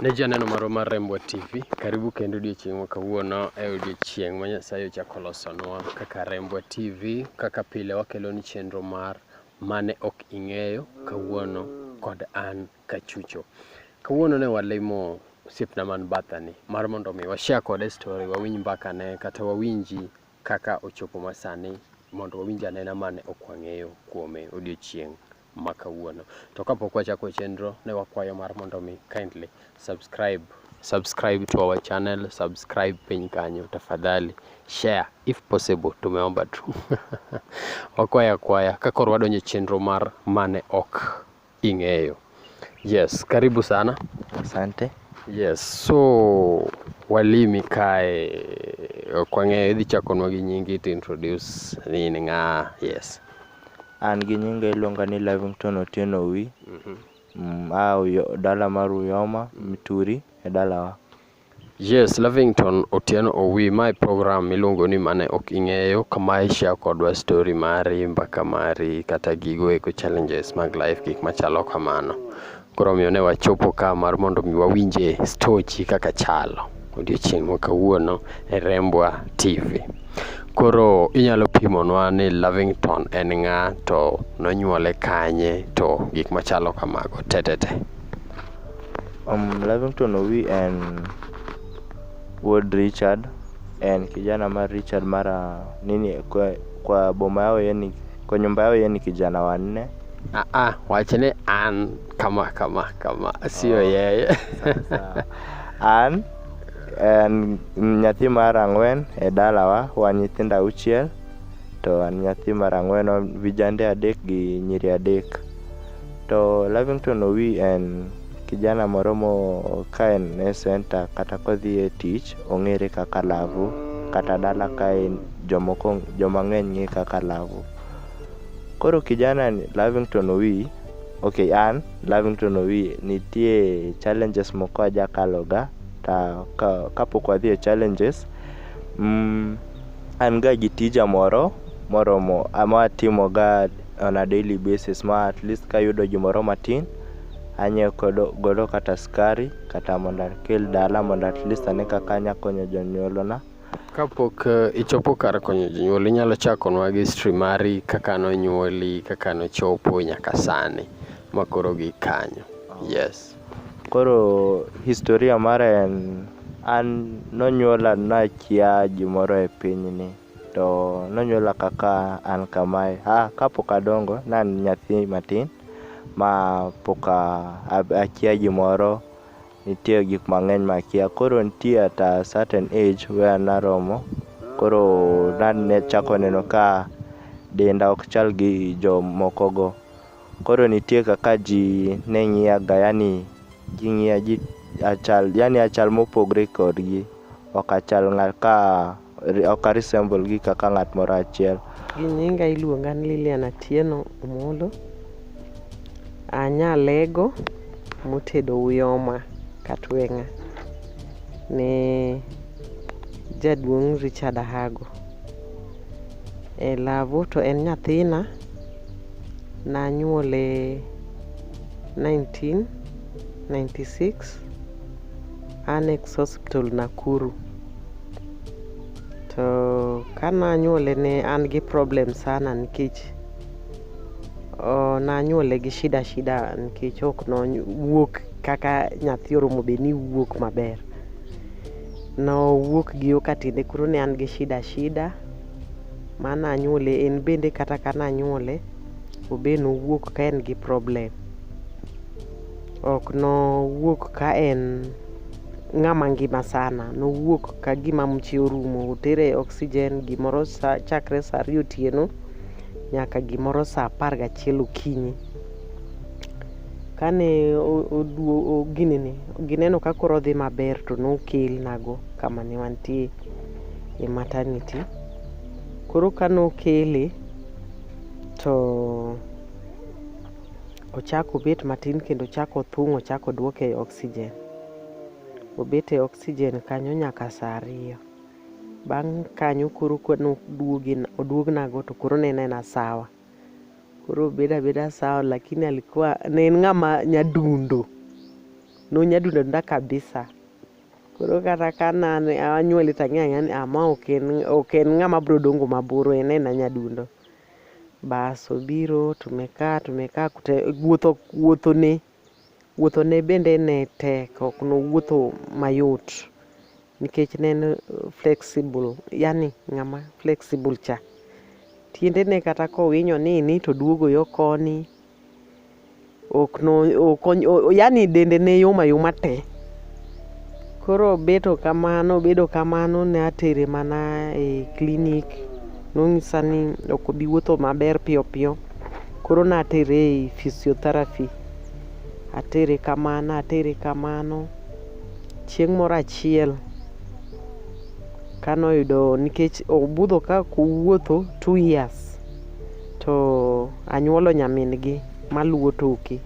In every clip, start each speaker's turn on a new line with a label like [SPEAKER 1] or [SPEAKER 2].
[SPEAKER 1] Ne ji aneno marwa mar Rembwa TV, karibu kendo odiechieng' ma kawuono e odiechieng' ma Nyasaye ochako losonwa kaka Rembwa TV, kaka pile wakelo ni chenro mar mane ok ing'eyo kawuono kod an Kachucho. Kawuono ne walimo osiepna man bathani mar mondo mi washare kode story, wawinj mbakane kata wawinji kaka ochopo masani mondo wawinj anena mane ok wang'eyo kuome odiechieng' ma kawuono. To kapok wachako chenro, ne wakwayo mar mondo mi kindly subscribe subscribe to our channel, subscribe piny kanyo tafadhali, share if possible, tumeomba tu wakwaya kwaya ka koro wadonje chenro mar mane ok ing'eyo. Yes, karibu sana. Asante.
[SPEAKER 2] Yes,
[SPEAKER 1] so walimi kae ok wang'eyo, idhi chakonwa gi nyingi to introduce ni in ng'a? Yes. An gi
[SPEAKER 2] nyinga iluonga ni Livington Otieno Owi. Mm, a Uyo- dala mar Uyoma, Mituri e dalawa. Yes,
[SPEAKER 1] Lavington Otieno Owi, mae program miluongo ni mane ok ing'eyo kama ishare kodwa story mari, mbaka mari, kata gigo eko challenges mag life, gik machalo kamano. Koro omiyo ne wachopo ka mar mondo mi wawinje stochi kaka chalo odiochieng' ma kawuono e Rembwa TV. Koro inyalo pimonwa ni Lavington en ng'a to nonyuole kanye to gik machalo kamago tetete. Um,
[SPEAKER 2] Lavington Owi en wuod Richard, en kijana mar Richard mara nini kwa, kwa boma yao yani Kwa nyumba yao yeye ni kijana wa nne. Ah, ah, wachane
[SPEAKER 1] an kama kama kama sio oh, yeye
[SPEAKER 2] an en nyathi mar ang'wen e dalawa wan nyithindo auchiel to an nyathi mar ang'wen vijande adek gi nyiri adek to Lavington Owi en kijana moro mo ka en e center kata kodhi e tich ong'ere kaka Lavu kata dala ka en jomoko joma ng'eny ng'e kaka Lavo. Koro kijana ni Lavington Owi, okay an Lavington Owi nitie challenges moko ajakaloga ta ka, kapok wadhi e challenges mm, an ga gi tija moro moromo ama atimoga on a daily basis ma at least kayudo gimoro matin anyiewo kodo- godo kata skari kata mondo akel dala mondo at least ane kaka anya konyo jonyuolona. Kapok
[SPEAKER 1] eh, ichopo kar konyo jonyuol, inyalo chakonwa gi history mari kaka nonyuoli, kaka nochopo nyaka sani ma koro gi kanyo. Yes. Koro
[SPEAKER 2] historia mara en an nonyuola nakia gimoro e pinyni to nonyuola kaka an kamae. Ah, kapok adongo ne an nyathi matin ma pok a- a- akia gimoro Nitie gik mang'eny makia. Koro nitie at a certain age where naromo koro nachako neno ka denda ok chal gi jomokogo. Koro nitie kaka ji ne ng'iyaga yani ging'iya achal yani achal mopogre kodgi ok achal ng'at ka ok aresemble gi kaka ng'at moro achiel. Gi nyinga
[SPEAKER 3] iluonga ni Lilian Atieno Omolo. Anya lego motedo uyoma katweng'a ne jaduong' Richard Ahago. E lavo to en nyathina nanyuole 1996 Annex Hospital Nakuru. to ka nanyuole ne an gi problem sana nikech nanyuole gi shida shida nikech ok nowuok kaka nyathi oromo bed ni wuok maber nowuok gi yo katinde koro ne an gi shida shida ma nanyuole en bende kata ka nanyuole obe nowuok ka en gi problem ok nowuok ka en ng'ama ngima sana nowuok ka gima mche orumo otere e oxygen gimoro sa, chakre sa ariyo otieno nyaka gimoro sa apar gachiel okinyi kane o- oduo o- ginene gineno ka koro odhi maber to nokelnago kama ne wantie e maternity koro ka nokele to ochako obet matin kendo ochako othung' ochako odwoke e oxygen obet e oxygen kanyo nyaka saa ariyo. Bang' kanyo koro ka noduogi oduognago to koro ne en aena sawa. Koro obedo abeda sawa lakini alikuwa ne en ng'ama nyadundo, nonyadundo adunda kabisa. Koro kata ka nane anyuole to ang'eyo ang'eya ni ah ma ok en ok en ng'ama bro dongo mabor en aena nyadundo. Bas obiro tumekaa tumekaa kute wuotho wuothone Wuothone bende ne tek, ok nowuotho mayot nikech ne en flexible, yani ng'ama flexible cha. Tiendene kata kowinyo nini to duogo yo koni, yani dende ne yom ayoma te. Koro obeto kamano obedo kamano ne atere mana e clinic nonyisa ni ok obi wuotho maber piyo piyo koro natere e physiotherapy atere kamano atere kamano chieng' moro achiel kano yudo nikech obudho ka kowuotho two years to anyuolo nyamin gi maluwo toke.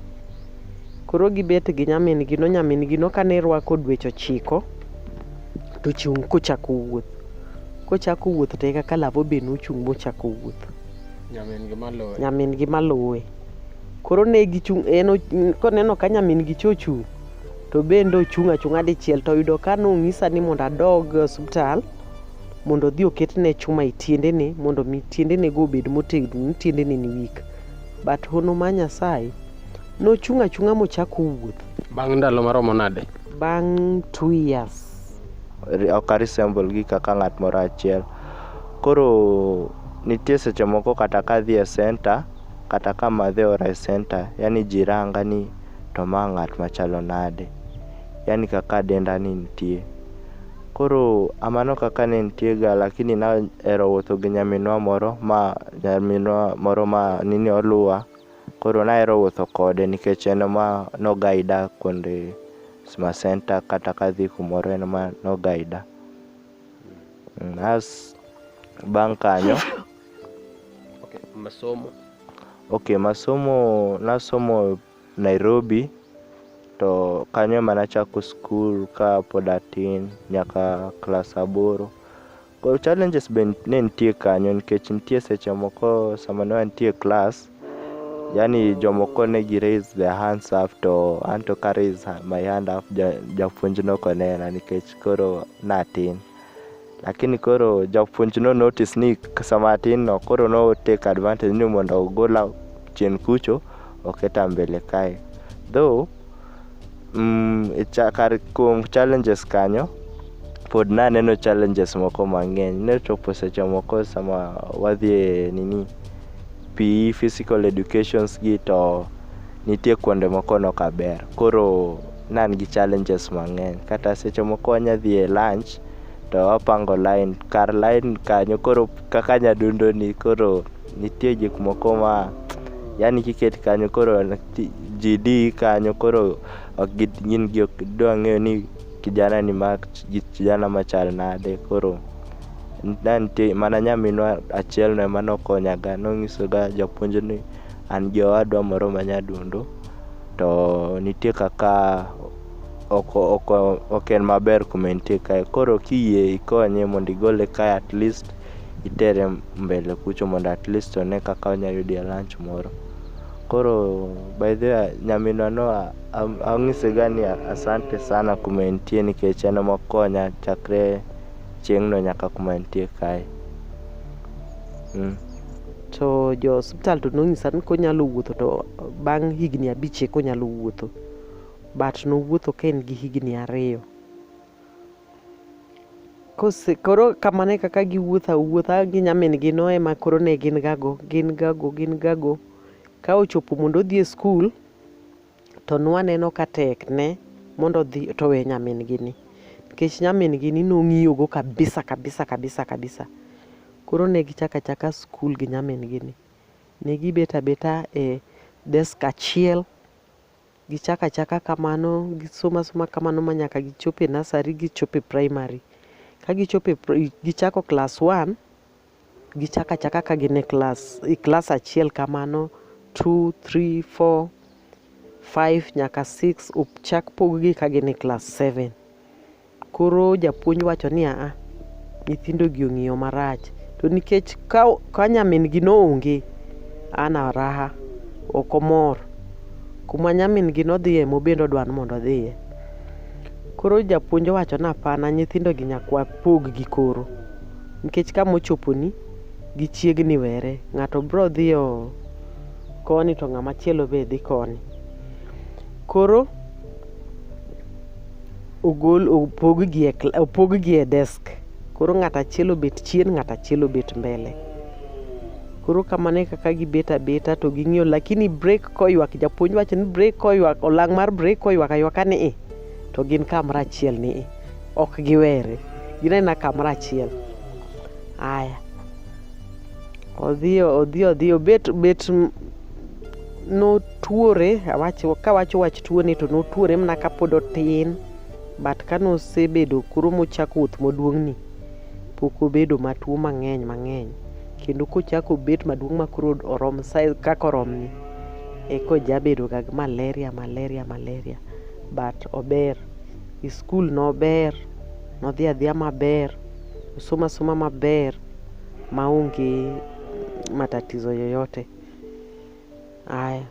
[SPEAKER 3] Koro gibet gi nyamin gi no nyamin gi no kane rwako dweche ochiko to chung' kochako wuoth. Kochako wuoth to eka ka lavo be nochung' mochako wuoth. Nyamin gi malowe. Nyamin gi malowe. Koro ne gichung' en o- koneno ka nyamin gi cha ochung' to bende ochung' achung'a dichiel to oyudo ka nong'isa ni mondo adog e osiptal mondo odhi oketne chuma e tiendene mondo mi tiendene go obed motegno ni tiendene ni weak. But hono ma Nyasaye Nochung' achung'a mochako wuoth. Bang' ndalo maromo
[SPEAKER 1] nade? Bang'
[SPEAKER 3] two years. Ok
[SPEAKER 2] aresemble gi kaka ng'at moro achiel. Koro nitie seche moko kata kadhi e center kata ka madhe ora e center, yani ji ranga ni to ma ng'at machalo nade. Yani kaka denda ni nitie. Koro amano kaka ne nitie ga lakini nahero wuotho gi nyaminwa moro ma nyaminwa moro ma nini oluwa. Koro nahero wuotho kode nikech en ema no guida kuonde Sma Center kata kadhi kumoro en ema no guida. Mm, As bang' kanyo, Okay, masomo. okay, masomo nasomo Nairobi to kanyo ema nachako skul ka pod atin nyaka klas aboro. Well challenges be ne nitie kanyo nikech nitie seche moko sama ne wantie class yani jomoko ne gi raise their hands up to an to ka raise my hand up japuonj ja noko nena nikech koro natin lakini koro japuonj no notice ni sama atin no koro no take advantage ni mondo ogola chien kucho oketa mbele kae though Mm, e cha- kar kuom challenges kanyo pod naneno challenges moko mang'eny ne chopo seche moko sama wadhi e nini PE physical educations gi to nitie kuonde moko nok aber koro nan gi challenges mang'eny kata seche moko wanya dhi e lunch to wapango line kar line kanyo koro kaka nyadundo ni koro Nitie gik moko ma yani kiket kanyo koro ji di kanyo koro ok gin gi ok dwa ng'eyo ni kijana ni ma kijana machal nade koro na nitie mana nyaminwa achiel no ema nokonyaga nonyisoga japuonj ni an gi owadwa moro ma nyadundo to nitie kaka ok ok ok en maber kuma entie kae koro kiyie ikonye mondo igole kae at least itere mbele kucho mondo at least one kaka onya yudie lunch moro. Koro by the way nyaminwa no ang'ise ga ni asante sana kuma entie nikech en ema okonya chakre chieng'no nyaka kuma entie kae. Mm.
[SPEAKER 3] To jo osiptal to nonyisa ni konyalo wuotho to bang' higni abich eka onyalo wuotho but nowuotho ka en gi higni ariyo. Kose, koro kamano e kaka giwuotho awuotha gi nyamin-gi no ema koro ne gin gago gin gago gin gago ka ochopo mondo odhi e skul to nwaneno ka tekne mondo odhi to owe nyamin-gi ni nikech nyamin-gi ni nong'iyogo kabisa kabisa kabisa kabisa koro ne gichako achaka skul gi nyamin-gi ni ne gibet abeta e desk achiel Gichako achaka kamano, gisomo asoma kamano ma nyaka gichop e nursery, gichop e primary. Ka gichopo e pri- gichako class one, gichako achaka ka gin e class, e class achiel kamano, two, three, four, five nyaka six, ochak pog gi ka gin e class seven. Koro japuonj wacho ni aa, nyithindogi ong'iyo marach. To nikech ka, ka nyamin-gi noonge, an araha, ok omor. Kuma nyamin-gi nodhiye ema obende odwa ni mondo odhiye. Koro japuonj owacho ni hapana, nyithindogi nyaka wapog gi koro. Nikech kama ochoponi, gichiegni were. Ng'ato biro dhiyo koni to ng'ama chielo be dhi koni. Koro ogol opog gi e, opog gi e desk koro ng'at achiel obet chien ng'at achiel obet mbele koro kamano e kaka gibet abeta to ging'iyo lakini break koywak japuonj wacho ni break koywak olang' mar break koywak aywaka ni i to gin kamra achiel ni i ok giwere gin aina kamra achiel aya odhi odhi odhi obet bet notuore awacho kawacho wach tuone to notuore mana kapod otin but kane osebedo koro mochako wuoth moduong'ni pok obedo matuo mang'eny mang'eny kendo kochako obet maduong' ma koro orom size kaka oromni eka ojabedoga gi malaria malaria malaria but ober e skul nober nodhi adhiya maber osomo asoma maber maonge matatizo yoyote. Aya,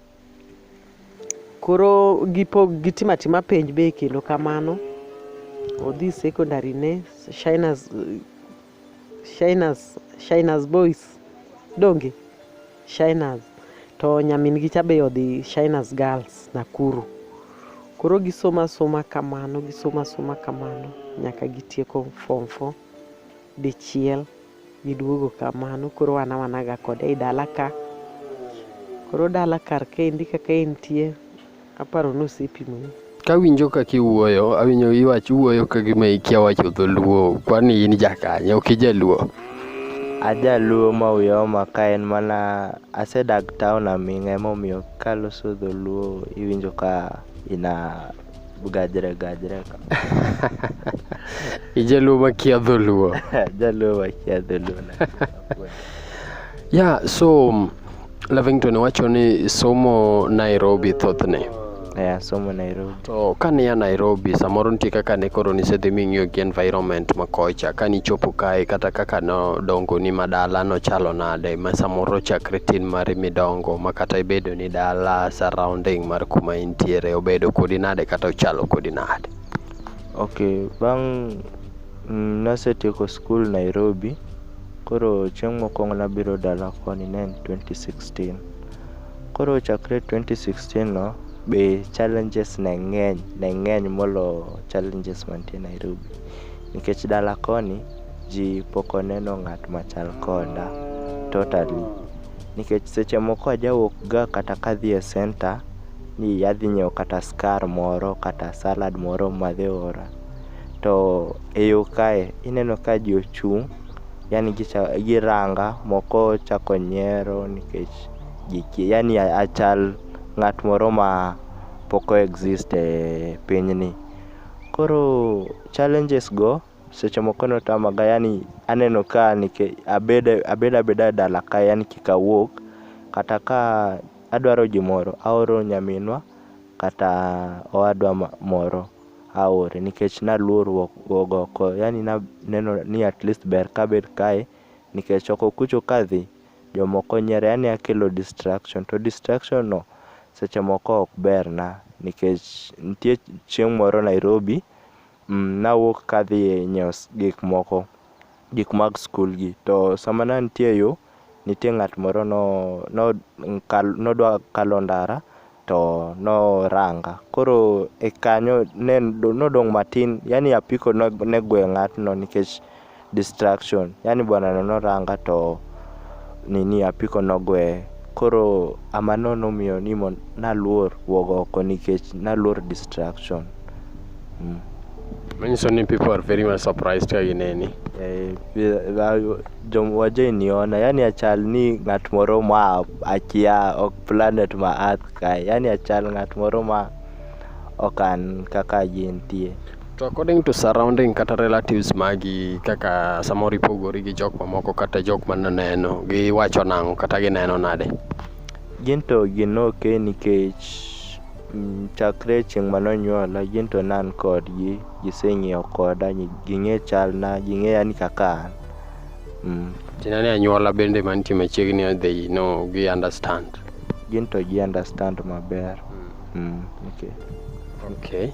[SPEAKER 3] koro gipo gitima tima penj be kendo kamano. Odhi secondary ne Shinas Shinas Shinas Boys donge Shinas to nyamin gi cha be odhi Shinas Girls Nakuru. Koro gisoma soma kamano gisoma soma kamano nyaka gitieko form four. dichiel giduogo kamano koro wan awana ga kode ei dala ka koro dala kar kendi kaka entie aparo ni osepimoni kawinjo kaka
[SPEAKER 1] iwuoyo awinjo iwach iwuoyo ka gima ikia wacho dholuo kwani in jakanye ok ijaluo ajaluo
[SPEAKER 2] ma wiya oma ka en mana asedak town aming'a emomiyo kaloso dholuo iwinjo ka ina Gajre, gajre.
[SPEAKER 1] Ijaluo makia dholuo. Jaluo makia
[SPEAKER 2] dholuo.
[SPEAKER 1] Yeah, so um, Lavington wacho ni somo Nairobi thothne. Yeah, somo
[SPEAKER 2] Nairobi. To kane ya
[SPEAKER 1] Nairobi samoro nitie kaka ne koro nisedhi ming'iyo gi environment ma kocha kane ichopo kae kata kaka nodongo ni madala nochalo nade ma samoro chakre tin mari midongo ma kata ibedo ni dala surrounding mar kuma in nitiere obedo kodi nade kata ochalo kodi nade. Okay,
[SPEAKER 2] bang' mm, nasetieko skul Nairobi, koro chieng' mokwongo nabiro dala koni ne en 2016. Koro chakre 2016 no be challenges ne ng'eny, ne ng'eny molo challenges mantie Nairobi. Nikech dala koni ji pok oneno ng'at machal koda totally. Nikech seche moko ajawuok ga kata kadhi e center ni adhi nyiewo kata skar moro kata salad moro madhi ora. To e yo kae ineno ka ji ochung' yani giranga moko chako nyiero nikech gikia yani achal ng'at moro ma pok o exist e pinyni. Koro challenges go seche moko notamaga yani aneno ka abedo abeda e dala ka yani kik awuog kata ka Adwaro gimoro, aoro nyaminwa kata owadwa moro aore nikech naluor wuok oko. Yani naneno ni at least ber kabet kae nikech oko kucho kadhi jomoko nyiera yani akelo distraction to distraction no seche moko ok berna nikech nitie chieng' moro Nairobi nawuok kadhi nyiewo gik moko gik mag skul gi to sama ne antie e yo, nitie ng'at moro nodwa kalo ndara to noranga. Koro e kanyo ne nodong' matin yani apiko ne gweyo ng'atno nikech distraction. Yani bwanano noranga to nini apiko nogweye. Koro amano nomiyo ni naluor wuok oko nikech naluor distraction. Mm.
[SPEAKER 1] Manyiso ni people are very much surprised ka gineni. Eh, bi- ba- jom
[SPEAKER 2] waje niona yani achal ni ng'at moro ma akia ok planet ma earth kae yani achal ng'at moro ma ok an kaka gintie To according to
[SPEAKER 1] surrounding kata relatives magi kaka samoro ipogori gi jok mamoko kata jok mananeno giwacho nang'o kata gineno nade? gin to
[SPEAKER 2] gin ok nikech Mm, chakre chieng' ma nonyuola gin to nan kodgi giseng'eyo koda ging'e chalna ging'eya ni kaka an mm. tina ni anyuola
[SPEAKER 1] bende mantie machiegni odhi no gi understand gin to gi
[SPEAKER 2] understand maber mm. okay. okay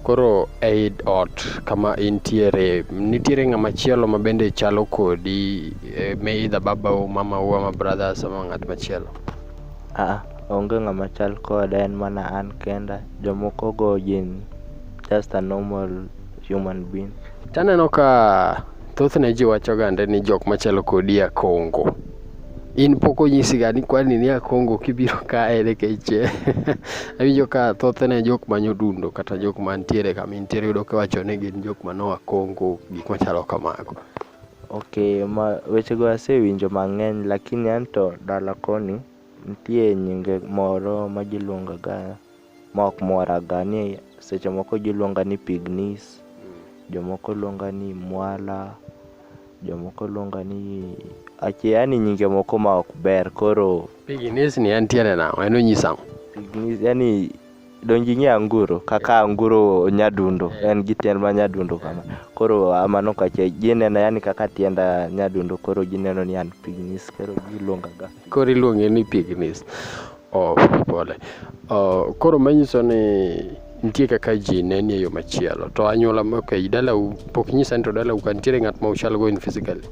[SPEAKER 2] koro
[SPEAKER 1] eid ot kama intiere nitiere ng'ama chielo ma bende chalo kodi e, me idha babau mamau ama brothers ama ng'at machielo Aa
[SPEAKER 2] onge ng'ama chal koda en mana an kenda. Jomoko go gin just a normal human being. Taneno ka
[SPEAKER 1] thothne ji wacho gande ni jok machalo kodi a Kongo. In pok onyisi ga ni kwani ni a Kongo kibiro kae nikech awinjo ka thothne jok manyodundo kata jok mantiere kama intiere yudo kiwacho ni gin jok manoa Kongo gik machalo kamago. Okay,
[SPEAKER 2] ma wechego asewinjo mang'eny lakini anto dala koni nitie nyinge moro ma giluongaga ma ok moraga ni seche moko giluonga ni pignis, jomoko luonga ni mwala, jomoko luonga ni ache yani nyinge moko ma ok ber koro Piginis ni en
[SPEAKER 1] tiende nang'o? En onyis ang'o? pignis yani
[SPEAKER 2] donji nye anguro kaka anguro nyadundo en gi tiend ma nyadundo kama koro amano kache gineno yani kaka tiend ah, nyadundo koro gineno ni an pignis koro giluonga ga koro iluonge ni
[SPEAKER 1] pignis oh, pole oh, koro manyiso ni nitie kaka ji neni e yo machielo to anyuola ma- okay, dalau pok nyisa ni to dalau ka nitiere ng'at ma uchal go in physically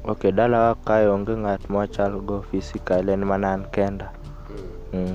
[SPEAKER 1] ok
[SPEAKER 2] dalawa kae onge ng'at mwachal go physical en mana an kenda mm.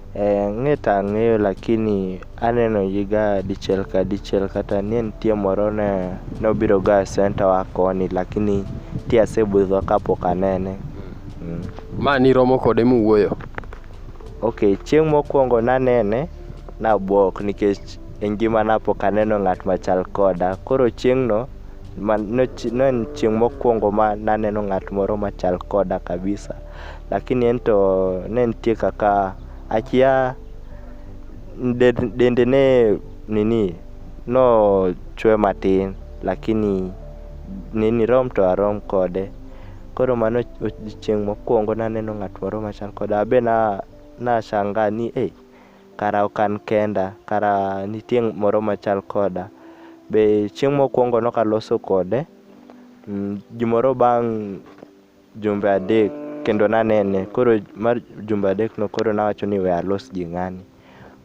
[SPEAKER 1] Eh, ng'e to
[SPEAKER 2] ang'eyo lakini aneno ji ga dichiel ka dichiel kata nie nitie moro ne nobiro ga e center wa koni lakini ti asebudho kapok anene. Mm.
[SPEAKER 1] Ma niromo kode muwuoyo? Ok, chieng' mokwongo
[SPEAKER 2] nanene nabwok nikech e ngimana pok aneno ng'at machal koda. Koro chieng'no ma nochi- ne en chieng' mokwongo ma naneno ng'at moro machal koda kabisa. lakini en to ne nitie kaka akia dende ne nini no chwe matin lakini nini rom to arom kode koro mano chieng' mokwongo naneno ng'at moro machal koda abe na nashanga ni e eh, kara ok an kenda kara nitie moro machal koda be chieng' mokwongo nokaloso kode mm, gimoro bang' jumbe adek kendo nanene koro mar jumbe adek no koro nawacho ni we alos gi ng'ani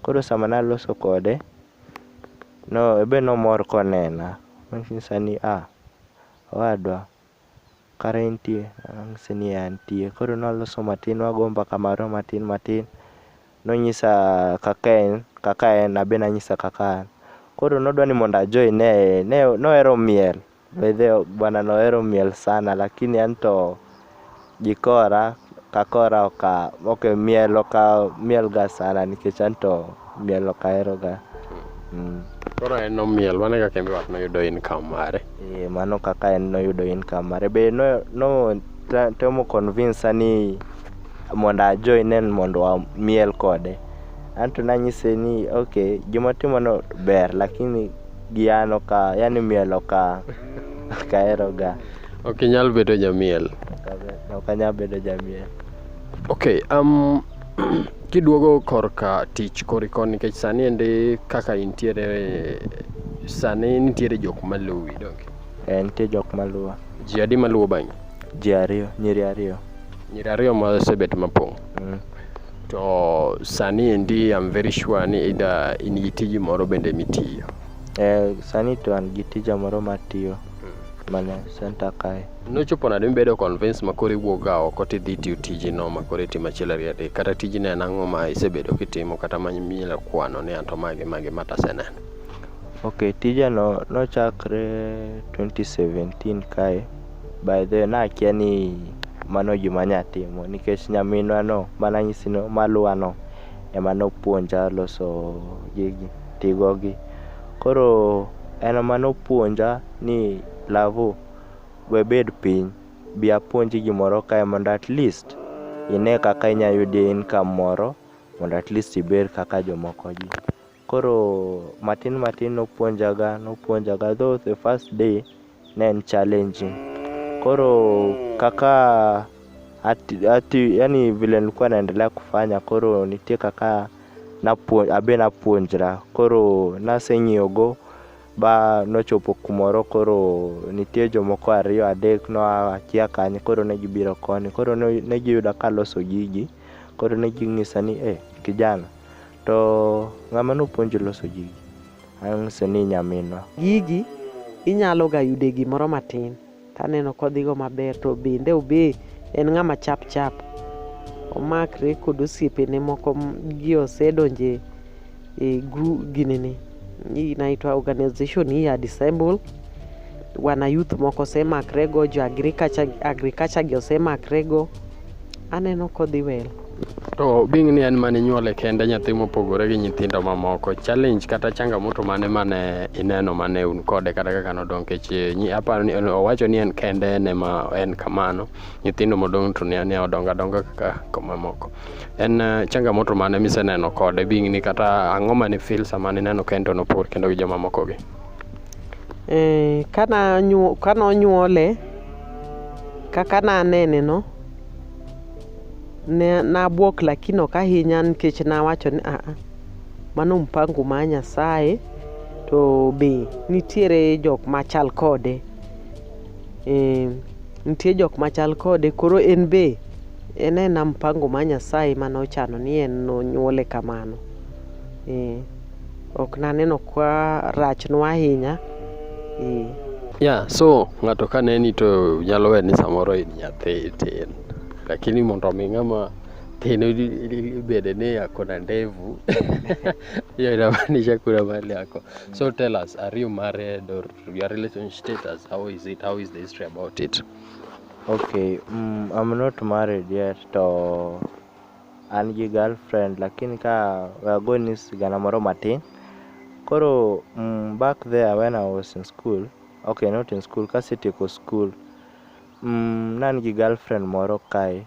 [SPEAKER 2] koro sama naloso kode no ebe nomor konena nonyisa ni ah owadwa kare intie nanyise ni "Eh, antie koro nwaloso matin wago mbaka marwa matin matin nonyisa kaka en kaka en abe nanyisa kaka an koro nodwa ni mondo ajoine ne nohero miel By the way, bwana nohero miel sana lakini anto jikora kakora oka ok miel oka mielga sana nikech anto miel ok aheroga mm.
[SPEAKER 1] Koro en nomiel, mano e kaka en be wat noyudo income mare. Eh, mano kaka en
[SPEAKER 2] noyudo income mare be no, no ta- temo convince ni mondo ajoin en mondo wamiel kode anto nanyise ni ok gimatimono ber lakini gi an oka yani miel oka okaheroga ok inyal bedo
[SPEAKER 1] jamiel ok anyal
[SPEAKER 2] bedo jamiel okay
[SPEAKER 1] um, kiduogo korka tich koriko nikech sani ende kaka intiere sani nitiere jok maluwi donge Eh, nitie jok
[SPEAKER 2] maluwa ji adi maluwo
[SPEAKER 1] bang'i ji
[SPEAKER 2] ariyo nyiri ariyo nyiri
[SPEAKER 1] ariyo masebet mapong' mm. To sani endi I'm very sure ni ida in gi tiji moro bende mitiyo. Eh, sani
[SPEAKER 2] to an gi tija moro matiyo mana senta kae. Nochopo nade mibedo
[SPEAKER 1] convince ma koro iwuok ga oko tidhi tiyo tijino ma koro itimo achiel ariyo adek kata tijino en ang'o ma isebedo kitimo kata ma minyalo kwano ni anto magi magi ma taseneno. Okay,
[SPEAKER 2] tijano nochakre 2017 kae. By the way, nakia ni mano gima nya timo nikech nyaminwa no mana nyisi no maluwa no ema nopuonja loso gigi tigo gi. Koro en ema nopuonja ni Lavu we bed piny bi apuonji gimoro kae mondo at least ine kaka inya yudie income moro mondo at least ibed kaka jomoko gi. Koro matin matin nopuonjaga nopuonjaga though the first day ne en challenging. Koro kaka ati, ati, yani vile nilikuwa naendelea kufanya koro nitie kaka napuon, abe napuonjra koro naseng'iyogo ba nochopo kumoro koro nitie jomoko ariyo adek noa akia kanye koro ne gibiro koni koro ne ne giyuda kaloso gigi koro ne ginyisa ni e kijana To ng'ama nopuonji loso gigi? Ang' se ni nyaminwa. Gigi
[SPEAKER 3] inyalo ga yude gimoro matin to aneno kodhigo maber to bende obe en ng'ama chap chap omakre kod osiepene moko gi osedonje e gru ginene. hii inaitwa organization hii ya disable wana youth moko sema krego jo agriculture agriculture gi osema krego aneno kodhi well To being
[SPEAKER 1] ni en mane nyuole kende nyathi mopogore gi nyithindo mamoko, challenge kata changamoto mane mane ineno mane un kode kata kaka nodong kech nyi aparo ni owacho ni en kende en ema en kamano. Nyithindo modong to ne ne odongo adonga kaka kaka mamoko. en eh, changamoto mane miseneno kode bing'ni kata ang'o mane fil sama nineno ka en to nopor kendo gi jomamokogi eh,
[SPEAKER 3] kana nonyuole kaka nanene no ne nabwok lakini ok ahinya nikech nawacho ni aa mano mpango ma nyasaye to be nitiere jok machal kode e, nitie jok machal kode koro en be En ena mpango ma Nyasaye mane ochano ni en nonyuole kamano. Eh, ok naneno kwa rachnwa ahinya. Eh. Yeah, so
[SPEAKER 1] ng'ato ka neni to nyalo we ni samoro in nyathi tin. Lakini mondo mi ng'ama tin ibede ni ako na ndevu hiyo inamaanisha kuna mahali yako. So tell us, are you married or your relationship status? How is it? How is the history about it? Okay,
[SPEAKER 2] mm, I'm not married yet to an gi girlfriend lakini ka we are going ni sigana moro matin. Koro mm, back there when I was in school, okay not in school, kasetieko school, mm, nan gi girlfriend moro kae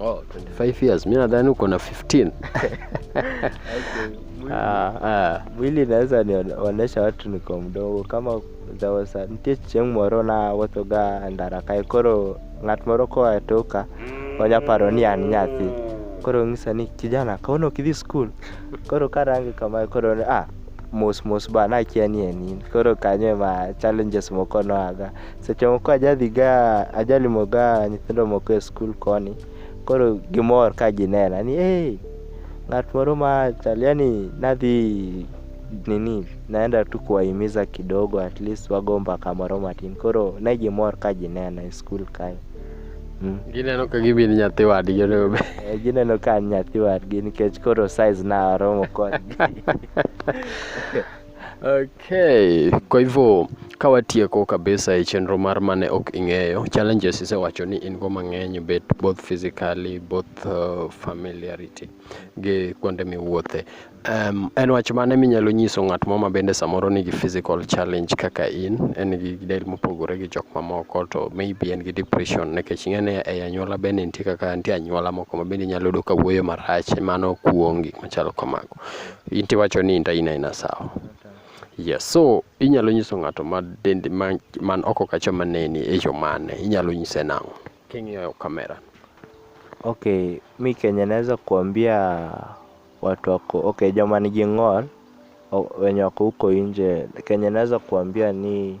[SPEAKER 2] Oh, 25 years.
[SPEAKER 1] Mimi nadhani uko na 15. Okay.
[SPEAKER 2] Ah, ah. Mwili naweza nionyesha watu niko mdogo kama there was a nitie chieng' moro na wuotho ga ndara kae koro ng'at moro koa toka onya paro ni an nyathi mm. koro ng'isa ni kijana kawuono ok idhi skul koro karange kamae koro ah mos mos ba nakia ni en in koro kanyo ema challenges moko noaga Seche moko ajadhiga ajalimoga nyithindo moko e skul koni, koro gimor ka ginena ni hey, ng'at moro ma chal yani nadhi nini naenda tu kuwahimiza kidogo at least wago mbaka moro matin koro ne gimor ka ginena e skul kae mm. Gineno
[SPEAKER 1] ka gibi ni nyathi wadgi onego bed. Eh, gineno ka an
[SPEAKER 2] nyathi wadgi nikech koro size na aromo kodgi
[SPEAKER 1] Okay, kwa hivyo kawatieko kabisa e chenro mar mane ok ing'eyo challenges isewacho ni in go mang'eny bet both physically both uh, familiarity gi kuonde miwuothe um, en wach mane minyalo nyiso ng'at moro ma bende samoro nigi physical challenge kaka in en gi del mopogore gi jok mamoko to maybe en gi depression nikech ing'e ni e anyuola bende nitie kaka nitie anyuola moko ma bende inyalo yudo ka wuoyo marach mano kuongi machalo kamago in tiwacho ni inta ina ina sawa yes so inyalo nyiso ng'ato ma dende ma man oko kacha maneni e yo mane inyalo nyise nang'o king'iyo kamera Okay,
[SPEAKER 2] mi Kenya naweza kuambia watu wako okay, joma nigi ng'ol o- wenye wako huko nje, Kenya naweza kuambia ni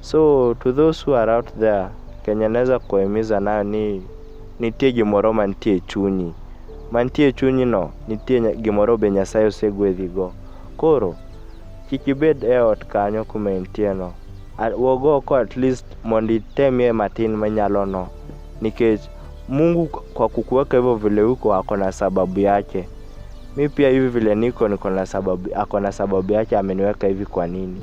[SPEAKER 2] So to those who are out there, Kenya naweza kuwahimiza nayo ni nitie gimoro mantie e chunyi. Mantie e chunyi no, nitie nya- gimoro be Nyasaye osegwedhigo. Koro, kik ibed e ot kanyo kuma intie no. A- Wuog oko at least mondo itemie matin minyalo no. Nikech Mungu kwa kukuweka hivyo vile uko ako na sababu yake. Mi pia hivi vile niko niko na sababu, ako na sababu yake ameniweka hivi kwa nini.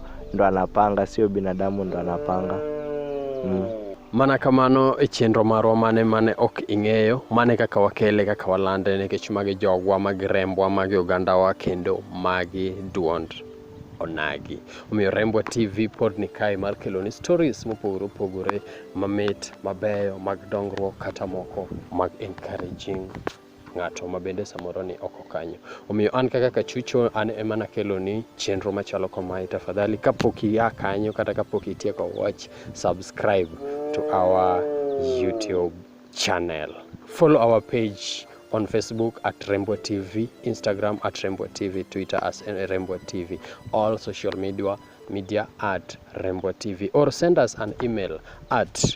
[SPEAKER 2] ndo anapanga, sio binadamu ndo anapanga mm.
[SPEAKER 1] Mana kamano e chenro marwa mane mane ok ing'eyo, mane kaka wakele kaka walande nikech magi jogwa, magi rembwa, magi ogandawa kendo magi duond onagi. Omiyo Rembwa TV pod ni kae mar keloni stories mopogore opogore mamit, mabeyo, mag dongruok kata moko mag encouraging. ng'ato ma bende samoro ni oko kanyo. Omiyo an kaka kachucho an ema nakelo ni chenro machalo kamae. Tafadhali kapok ia kanyo kata kapok itieko watch, subscribe to our YouTube channel. Follow our page on Facebook at Rembo TV, Instagram at Rembo TV, Twitter as Rembo TV, all social media media at Rembo TV or send us an email at